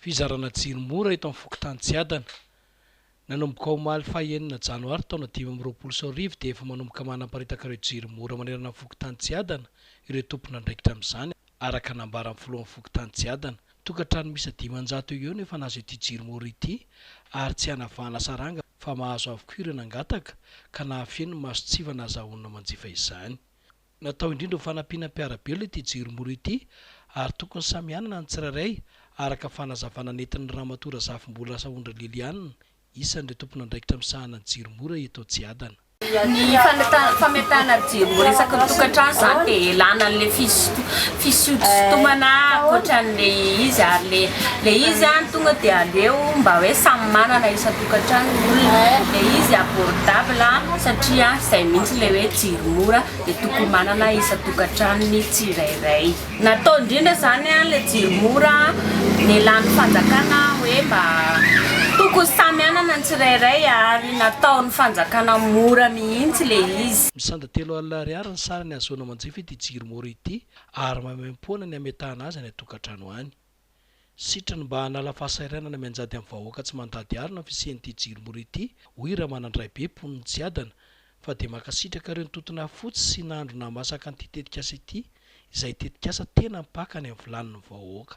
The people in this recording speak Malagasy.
Fizarana jiro mora eto amin'ny fokontany Tsiadana. Nanomboka omaly faha enina janoary taona dimy amby roapolo sy roa arivo dia efa manomboka manaparitaka ireo jiro mora manerana ny fokontany Tsiadana ireo tompon'andraikitra amin'izany, araka ny nambaran'ny filohan'ny fokontany Tsiadana. Tokantrano miisa dimanjato eo ho eo no efa nahazo ity jiro mora ity ary tsy hanavahana saranga fa mahazo avokoa ireo nangataka ka nahafeno ny mason-tsivana ahazahoana manjifa izany. Natao indrindra ho fanampiana ny mpiara-belona ity jiro mora ity ary tokony samy hanana ny tsirairay, araka fanazavana nentin'ny Ramatoa Razafimbolaasa Ondry Liliane, isan'ireo tompon'andraikitra misahana ny jiro mora eto Tsiadana. Ny fametahana jiro ho resaky ny tokantrano izany dia ilàna an'ilay fisodosodomana ankoatra an'ilay izy ary ilay izy tonga dia aleo mba hoe samy manana isan-tokantrano. tokantrano ny olona dia izy abordable satria izay mihitsy ilay hoe jiro mora dia tokony manana isan-tokantranony tsirairay. Natao indrindra izany ilay jiro mora nelan'ny fanjakana hoe mba tokony samy hanana ny tsirairay ary nataon'ny fanjakana mora mihitsy ilay izy. Misanda telo alina ariary ny sarany ahazoana manjifa ity jiro mora ity ary maimaimpoana ny hametahana azy any an-tokantrano any. Sitriny mba hanala fahasahiranana mianjady amin'ny vahoaka tsy mandady harona ny fisian'ity jirimory ity, hoy Ramanandraibe, mponin'i Tsiadana, fa dia mankasitraka ireo nitoto nahafotsy sy nahandro nahamasaka an'ity tetikasa ity, izay tetikasa tena mpaka any amin'ny vilanin'ny vahoaka.